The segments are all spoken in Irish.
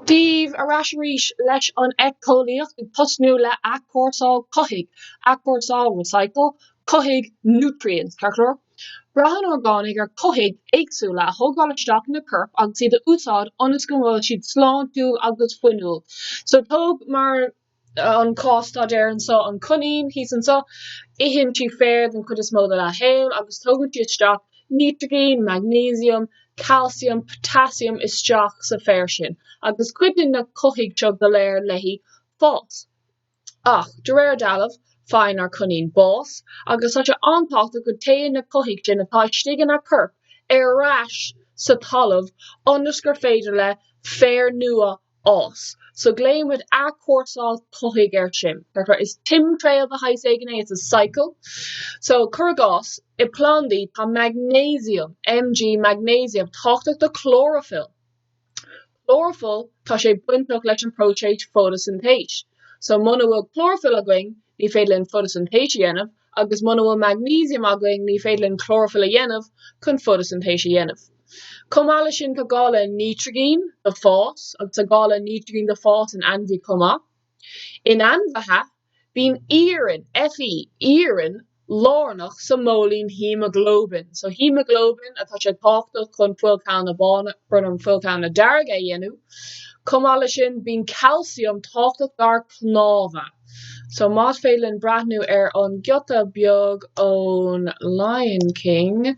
Daoibh, ar ais arís leis an eiceolaíocht, ag tosnú le athchúrsáil cothaigh, athchúrsáil, recycle, cothaigh, nutrients, ceart go leor. Braitheann orgánaigh ar cothaigh éagsúla a thógáil isteach ina corp agus iad a úsáid ionas go bhfuil siad sláintiúil agus fuinniúil. So tóg mar. an cás-staidéar anseo, an coinín thíos anseo, itheann sí féar den chuid is mó dá shaol agus tógann sí isteach nítrigín, maignéisiam, calcium, potassium isteach sa féar sin agus cuidíonn na cothaigh seo go léir léi fás. Ach, de réir dealraimh, faigheann ár coinín bás agus tá sé an-tábhachtach go dtéann na cothaigh sin atá istigh ina corp ar ais sa talamh ionas gur féidir le féar nua a Fhás so glaonn muid athchúrsáil cothaigh air sin, is timthriall de shaghas éigin é, it's a cycle. So cuir i gcás, i plandaí tá maignéisiam, Mg, maignéisiam, tábhachtach do chlóraifill. Chlóraifill, tá sé bainteach leis an próiseas fótaisintéis. So muna bhfuil clóraifill againn, ní féidir linn fótaisintéis a dhéanamh, agus muna bhfuil maignéisiam againn, ní féidir linn clóraifill a dhéanamh chun fótaisintéis a dhéanamh. Chomh maith leis sin tá gá le nítrigin do fás agus tá gá le nítrigin do fás in ainmhí chomh maith. In ainmhithe, bíonn iarann, Fe, iarann lárnach sa móilín haemaglóibin. So haemaglóibin atá sé tábhachtach chun fuilchealla bána, brón orm, fuilchealla dearga a dhéanamh. Chomh maith leis sin bíonn calcium tábhachtach dár cnámha. So más féidir linn breathnú ar an giota beag ón Lion King,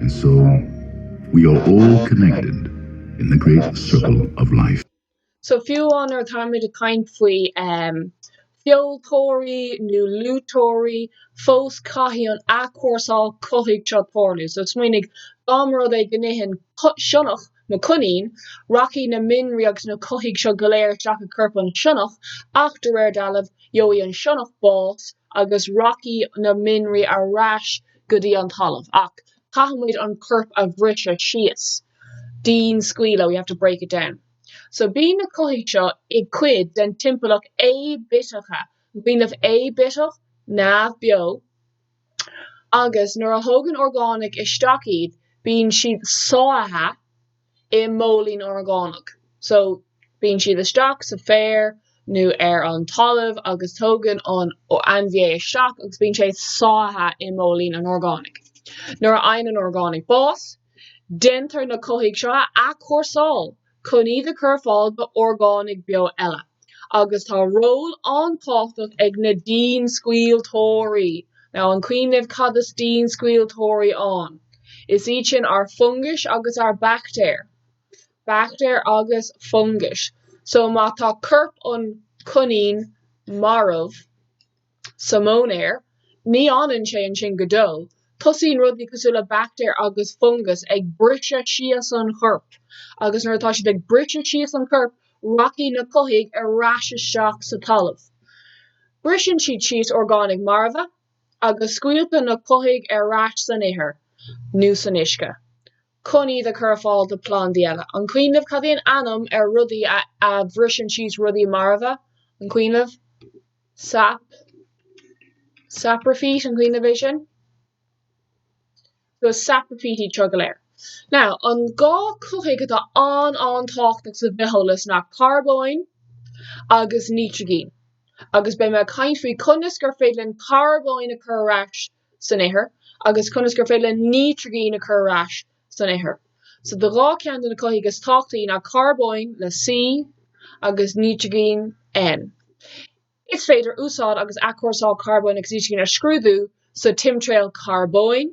And so, we are all connected in the great circle of life. So, fiú nuair atáimid ag caint faoi feoiliteoirí nó luibhiteoirí, fós caithfidh an athchúrsáil cothaigh seo tarlú. So, smaoinigh, dá mba rud é go n-itheann sionnach mo coinín, rachaidh na mianraí agus na cothaigh seo go léir isteach i corp an sionnach ach, de réir dealraimh, gheobhaidh an sionnach bás agus rachaidh na mianraí ar ais go dtí an talamh ach caithfidh muid an corp a bhriseadh síos, dianscaoileadh, we have to break it down. So bíonn na cothaigh seo i gcuid den timpeallacht aibitheacha, brón orm, aibitheach, neamh beo, agus nuair a thógann orgánaigh isteach iad bíonn siad sáithe, i móilín orgánach so bíonn siad isteach sa féar nó ar an talamh agus tógann an ainmhí é isteach agus bíonn sé sáithe i móilín an orgánaigh. Nuair a fhaigheann an orgánaigh bás, déantar na cothaigh seo a athchúrsáil chun iad a chur ar fáil do orgánaigh beo eile. agus tá ról an-tábhachtach ag na dianscaoilteoirí. Now, an cuimhin libh cad is dianscaoilteoirí ann? Is iad sin ár fungais agus ár baictéir. Baictéir agus fungais. So, má tá corp an coinín marbh, sa mhóinéar, ní fhanann sé ansin go deo, tosaíonn rudaí cosúil le baictéir agus fungais ag briseadh síos an chorp agus nuair atá siad ag briseadh síos an chorp, rachaidh na cothaigh ar ais isteach sa talamh. Briseann siad síos orgánaigh marbha agus scaoiltear na cothaigh ar ais san ithir nó san uisce. chun iad a chur ar fáil do phlandaí eile. An cuimhin libh, cad é an ainm ar rudaí a bhriseann síos rudaí marbha? An cuimhin libh, sap, sapraifít, an cuimhin libh é sin? So sapraifítí iad seo go léir. Now, an dhá cothaigh atá an-an-tábhachtach sa bhitheolas ná carbóin agus nítrigin. Agus beidh mé ag caint faoi conas gur féidir linn carbóin a chur ar ais san ithir agus conas gur féidir linn nítrigin a chur ar ais san ithir. So do dhá cheann de na cothaigh is tábhachtaí ná carbóin le C agus nítrigin N. Is féidir úsáid agus athchúrsáil carbóin agus nítrigin a scrúdú sa timthriall carbóin,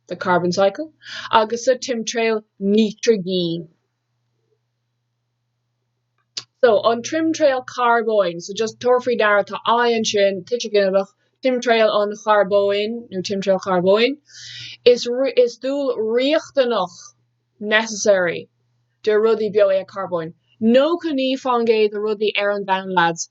the carbon cycle, agus sa timthriall nítrigin. So an timthriall carbóin, so just tabhair faoi deara tá I ansin, tuiseal ginideach, timthriall an charbóin nó timthriall carbóin, is dúil riachtanach, necessary, de rudaí beo é an carbóin. Nócha naoi faoin gcéad de rudaí ar an domhan lads.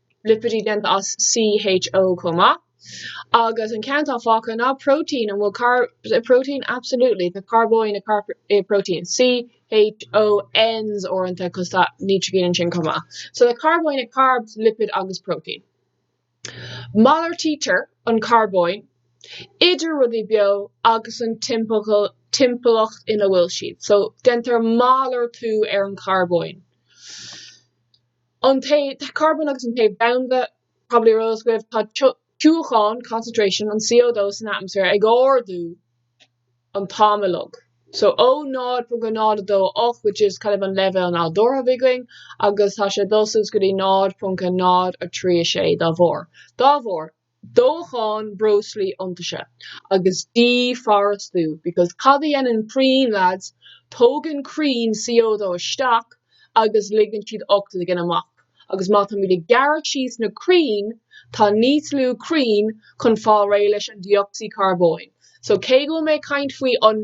lipidí déanta as CHO chomh maith. Agus an ceann atá fágtha ná protein, an bhfuil protein, absolutely, tá carbóin i protein, CHONs uaireanta cos tá nítrigin ansin chomh maith. So tá carbóin i carb, lipid agus protein. Malartaítear an carbóin idir rudaí beo agus an timpeallacht ina bhfuil siad. So déantar malartú ar an charbóin. An téamh, carbón agus an téamh domhanda, Probably ar eolas agaibh, tá tiúchan, concentration, an CO2 san atmaisféar ag ardú an t-am uilig, so ó 0.028, which is kind of an leibhéal nádúrtha a bhí againn, agus tá sé ag dul suas go dtí 0.036 dá bharr. Dá bharr. dóchán breoslaí iontaise agus dífhoraoisiú because cad a dhéanann crainn lads, tógann crainn CO2 isteach agus ligeann siad ocsaigin amach agus má táimid ag gearradh síos na crainn tá níos lú crainn chun fáil réidh leis an dé-ocsaíd carbóin so cé go bhfuil mé ag caint faoi an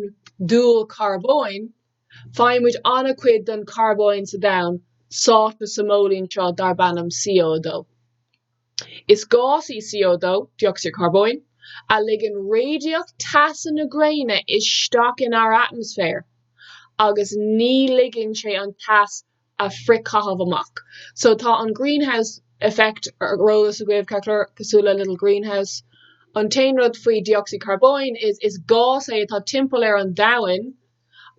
dúil carbóin faighimid an-chuid den charbóin sa domhan sáite sa móilín seo darb ainm CO2. Is gás í CO2, dé-ocsaíd carbóin, a ligeann radaíocht teasa na gréine isteach inár atmaisféar agus ní ligeann sé an teas a frithchaitheamh amach. So tá an Greenhouse Effect ar eolas agaibh, ceart go leor, cosúil le little greenhouse. An t-aon rud faoi dé-ocsaíd carbóin, is gás é atá timpeall ar an domhain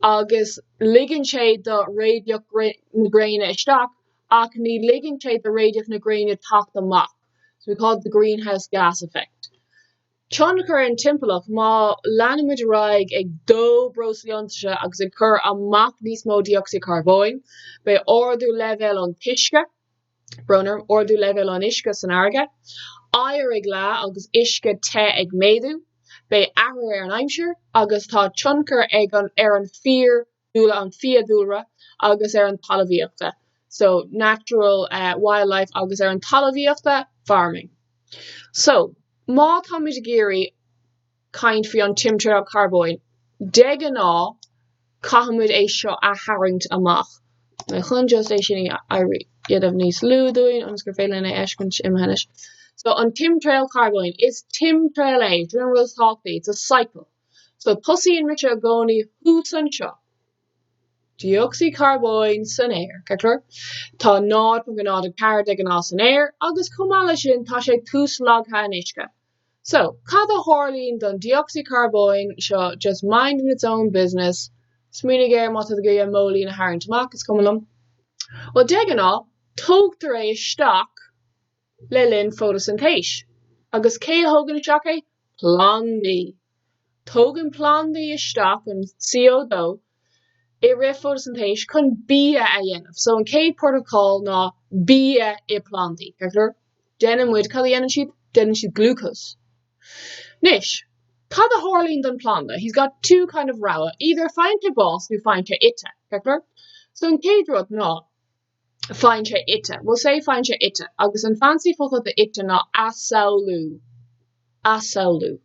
agus ligeann sé do radaíocht na gréine isteach ach ní ligeann sé do radaíocht na gréine teacht amach so we call it the greenhouse gas effect. Tionchar ar an timpeallacht, má leanann muid ar aghaidh ag dó breoslaí iontaise agus ag cur amach níos mó dé-ocsaíd carbóin, beidh ardú leibhéal an t-uisce, brón orm, ardú leibhéal an uisce san fharraige, oighear ag leá agus uisce te ag méadú, beidh athrú ar an aimsir agus tá tionchar ag an ar an fíor dúile an fiadhúlra agus ar an talmhaíochta, so, natural, wildlife, agus ar an talmhaíochta, farming. So, má táimid ag iarraidh caint faoi an timthriall carbóin, de ghnáth caithfimid é seo a tharraingt amach. Mar chun just é sin a dhéanamh níos lú dúinn, ionas gur féidir linn é a fheiscint imithe anois. So, an timthriall carbóin, is timthriall é, it's a cycle. So tosaíonn mise i gcónaí thuas anseo. Dé-ocsaíd carbóin san aer, ceart go leor. Tá 0.04 de ghnáth san aer agus chomh maith leis sin tá sé tuaslagtha in uisce. So, cad a tharlaíonn don dé-ocsaíd carbóin seo just minding its own business, smaoinigh air má tá tú ag iarraidh móilín a tharraingt amach, is cuma liom. Bhuel, de ghnáth, tógtar é isteach le linn fótasintéis. Agus cé a thógann isteach é? Plandaí! Tógann plandaí isteach an CO2 i rith fótasintéis chun bia a dhéanamh, so an chéad port of call ná bia i bplandaí, ceart go leor? Déanann muid, cad a dhéanann siad? Déanann siad glucose. Anois, cad a tharlaíonn don phlanda? He's got two kind of rogha, either faigheann sé bás nó faigheann sé ite, ceart go leor? So an chéad rud ná. faigheann sé ite. We'll say faigheann sé ite agus an fancy focal do ite ná asamhlú, asamhlú.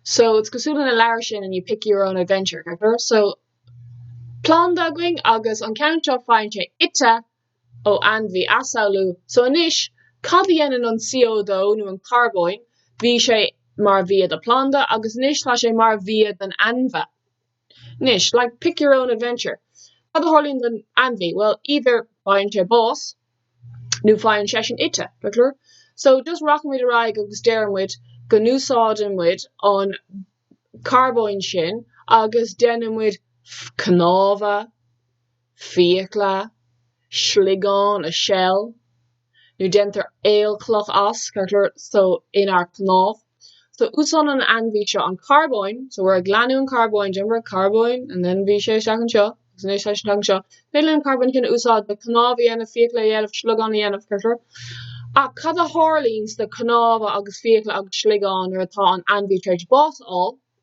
So, it's cosúil leis na leabhair sin and you pick your own adventure, ceart go leor? So, planda againn agus an ceann seo faigheann sé ite ó ainmhí, asamhlú. So anois, cad a dhéanann an CO2 nó an carbón? Bhí sé mar bhia do phlanda agus anois tá sé mar bhia don ainmhí. Anois, like, pick your own adventure, cad a tharlaíonn don ainmhí? Well, either faigheann sé bás nó faigheann seisean ite, ceart go leor? So, just rachann muid ar aghaidh agus deireann muid go n-úsáideann muid an carbón sin agus déanann muid cnámha. fiacla, sliogán, a shell, nó déantar aolchloch as, ceart go leor, so inár cnámh. So úsáideann an ainmhí seo an carbón, so we're ag leanúint an carbón, déantar carbón and then bhí sé isteach anseo agus anois tá sé isteach anseo. Féidir linn an carbón sin a úsáid le cnámh a dhéanamh, fiacla a dhéanamh, sliogán a dhéanamh, ceart go leor. Ach cad a tharlaíonn sna cnámha agus fiacla agus sliogán nuair atá an ainmhí tar éis bás a fháil?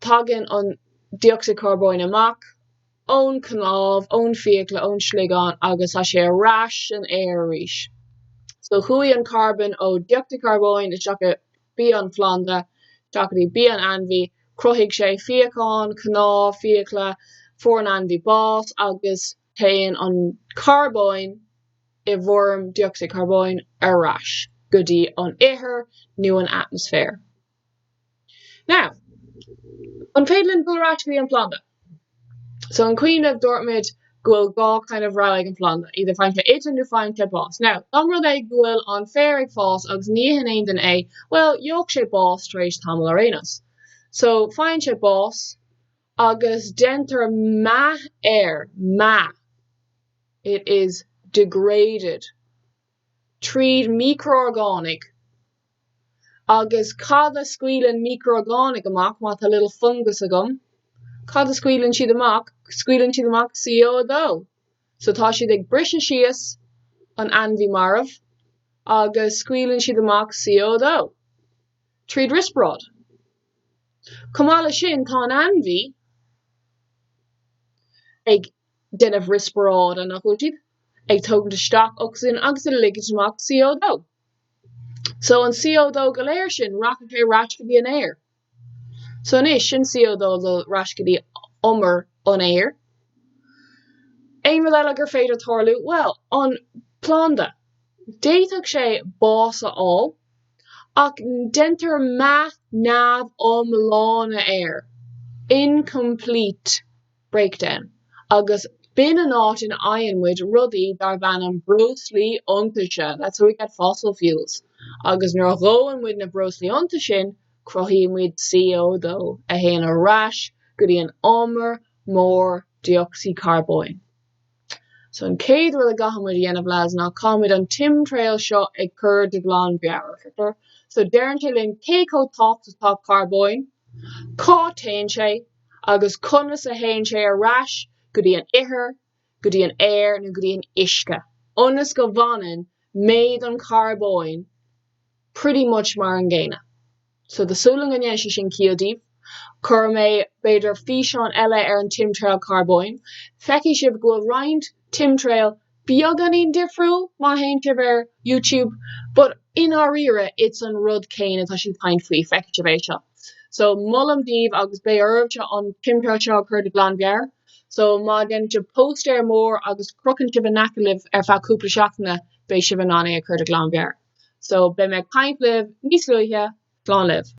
Tagann an dé-ocsaíd charbóin amach ón cnámh, ón fiacla, ón sliogán agus tá sé ar ais san aer arís. So chuaigh an carbón ó dé-ocsaíd charbóin isteach i bia an phlanda, isteach go dtí bia an ainmhí, chruthaigh sé fíochán, cnámh, fiacla, fuair an ainmhí bás agus téann an carbón i bhfoirm dé-ocsaíd charbóin ar ais go dtí an ithir nó an atmaisféar. Now, an féidir linn dul ar ais go dtí an planda? So, an cuimhin libh dúirt muid go bhfuil dhá kind of rogha ag an phlanda, either faigheann sé ite nó faigheann sé bás. Now, dá mba rud é go bhfuil an féar ag fás agus ní itheann aon duine é, well, gheobhadh sé bás tar éis tamaill ar aon nós. So, faigheann sé bás agus déantar meath air, meath, it is degraded. tríd micro-orgánaigh. Agus cad a scaoileann micro-orgánaigh amach má tá little fungus agam? Cad a scaoileann siad amach? Scaoileann siad amach CO2. So tá siad ag briseadh síos an ainmhí marbh agus scaoileann siad amach CO2 tríd riospráid. Chomh maith leis sin tá an ainmhí ag déanamh riospráide, nach bhfuil siad? ag tógaint isteach ocsaigin agus ag ligint amach CO2. So, an CO2 go léir sin, rachaidh sé ar ais go dtí an aer. So anois, sin CO2 ag dul ar ais go dtí umar an aeir. Aon rud eile gur féidir tarlú? Bhuel, an planda, d'fhéadfadh sé bás a fháil, ach déantar meath neamhiomlán air, incomplete. Breakdown, agus b'in an áit ina bhfaigheann muid rudaí darb ainm breoslaí iontaise, that's how we get fossil fuels, agus nuair a dhóann muid na breoslaí iontais sin, cruthaíonn muid CO2, a théann ar ais go dtí an umar mór dé-ocsaíd charbóin. So an chéad rud a gcaithfidh muid a dhéanamh lads ná caithfimid an timthriall seo a chur de ghlanmheabhair, ceart go leor? So deireann sé linn cé chomh tábhachtach atá carbón, cá téann sé agus conas a théann sé ar ais go dtí an ithir, go dtí an aer nó go dtí an uisce, ionas go bhfanann méid an charbóin pretty much mar an gcéanna. so tá súil agam go ndéanann sé sin ciall daoibh. Cuirfidh mé, b'fhéidir, físeán eile ar an timthriall carbóin. Feicfidh sibh go bhfuil roinnt timthriall beagáinín difriúil má théann sibh ar YouTube, but i ndáiríre, it's an rud céanna atá sinn ag caint faoi, feicfidh sibh é seo. So, molaim daoibh agus beidh oraibhse an timthriall seo a chur de ghlanmheabhair. So, má dhéanann sibh póstaer mór agus crochann sibh in aice libh ar feadh cúpla seachtaine, beidh sibh in ann é a chur de ghlanmheabhair, so beidh mé ag caint libh níos luaithe, slán libh!